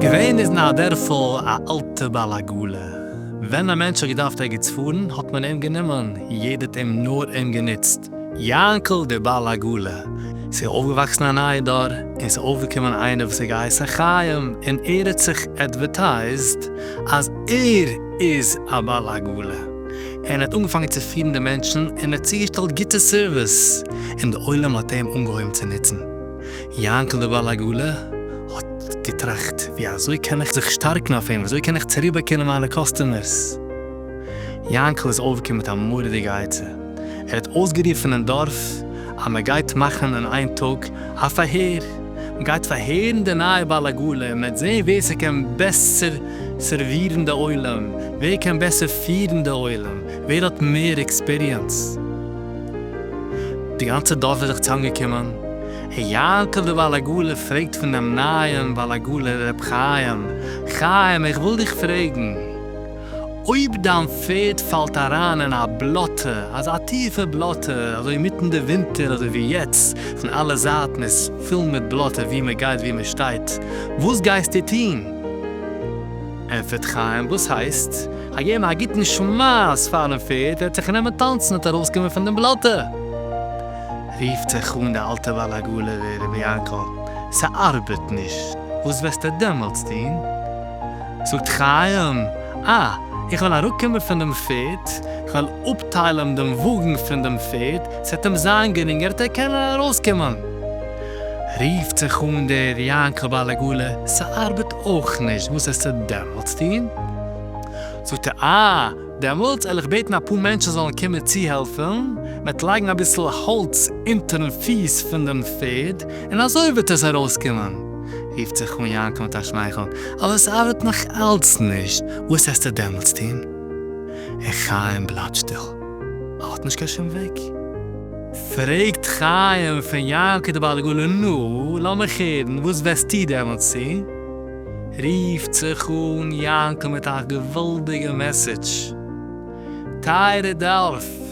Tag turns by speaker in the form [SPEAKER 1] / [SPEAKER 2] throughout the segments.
[SPEAKER 1] געווען איז אין א דערפל א אלטע בעל עגלה, ווען א מענטש האט געדארפט ערגעץ פארן האט מען אים גענומען, יעדער האט אים נאר אים גענוצט, יאנקל דער בעל עגלה, ס'איז אויפגעוואקסן א נייע דור, און ס'איז אויפגעקומען איינער וואס איז געהייסן חיים, און ער האט זיך עדווערטייזט אז ער איז א בעל עגלה, און ער האט אנגעפאנגען צו פירן די מענטשן, און ער האט צוגעשטעלט גוטע סערוויס, און די עולם האט אים אנגעהויבן צו נוצן. יאנקל דער בעל עגלה האט געטראכט, ווי אזוי קען איך זיך שטארקן אויף אים, ווי אזוי קען איך צוריקבאקומען מיינע קאסטומערס? יאנקל איז אויפגעקומען מיט א מורא'דיגע עצה. ער האט אויסגערופן אין דארף אז מען גייט מאכן אין איין טאג א פארהער. מען גייט פארהערן די נייע בעל עגלה, מען וועט זען ווער ס'קען בעסער סערווירן די עולם, ווער קען בעסער פירן די עולם, ווער האט מער עקספיריענס. די גאנצע דארף איז זיך צוזאמגעקומען, און יאנקל דער בעל עגלה פרעגט פונעם נייעם בעל עגלה ר' חיים, חיים איך וויל דיך פרעגן, אויב דיין פערד פאלט אריין אין א בלאטע, אזא טיפע בלאטע, אזוי אינמיטן די ווינטער אזוי ווי יעצט, פון אלע זייטן איז פול מיט בלאטע וואו מען גייט וואו מען שטייט, וואס גייסטו טון? ענטפערט חיים, וואס הייסט? כ'גיי געבן א גוטן שמייס פארן פערד, וועט זיך נעמען טאנצן און ארויסקומען פון דעם בלאטע! רופט זיך אן דער אלטער בעל עגלה, רבי יענקל, ס'ארבעט נישט, וואס וועסטו דעמאלטס טון? זאָגט חײם, אַ, איך װעל אַראָפּקומען פֿון דעם פֿערד, איך װעל אָפּטײלן דעם װאָגן פֿון דעם פֿערד, ס'װעט אים זײַן גרינגער, ער קען אַרױסקומען. רופֿט זיך אָן דער יענקל בײַ לעגאָלע, ס'אַרבעט אױך נישט, װאָס העסטו דעמאָלט טאָן? זאָגט ער, אַ, דעמאלטס על איך בעטן אפאר מענטשן זאלן קומען צוהעלפן מיט לייגן אביסל האלץ אונטערן פיס פון דעם פערד, און אזוי וועט עס ארויסקומען, רופט זיך אן יענקל מיט א שמייכל, אבער עס ארבעט נאך אלץ נישט, וואס העסטו דעמאלטס טון? און חיים בלייבט שטיל, ער האט נישט קיין שום וועג. פרעגט חיים פון יענקל די בעל עגלה, נו, לאמיך הערן, וואס וועסטו דעמאלטס טון? רופט זיך אן יענקל מיט א געוואלדיגע מעסעדזש, טייערע דארף,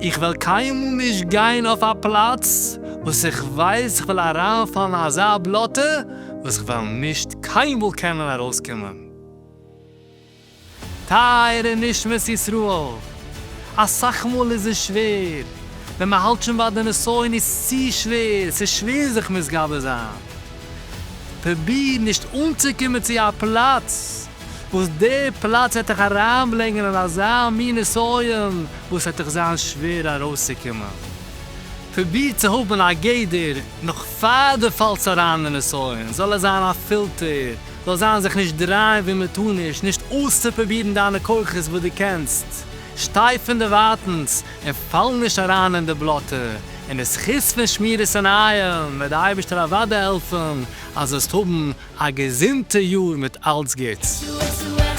[SPEAKER 1] איך וועל קיינמאל נישט גיין אויף א פלאץ וואס איך ווייס איך וועל אריינפאלן אין אזא בלאטע וואס איך וועל נישט קיינמאל קענען ארויסקומען. טייערע נשמת ישראל, אסאך מאל איז עס שווער, ווען מען האלט שוין ביי די נסיון איז צו שווער, ס'איז שווער זיך מתגבר זיין, פרוביר נישט אנצוקומען צו א פלאץ וואס די פלאץ וועט דיך אריינברענגען אין אזא מין נסיון וואס וועט דיך זיין שווער ארויסצוקומען, פרוביר צו האבן א גדר נאך פאר דו פאלסט אריין אין נסיון, זאל עס זיין א פילטער זאל זיין זיך נישט דרייען ווי מען טאר נישט, נישט אויסצופרובירן דיינע כוחות וואס דו קענסט, שטיי פונדערווייטנס און פאל נישט אריין אין די בלאטע, און די זכות פון שמירת עיניים וועט די אייבערשטער אוודאי העלפן אז זאלסט האבן א געזונטע יאר מיט אלץ גוטס.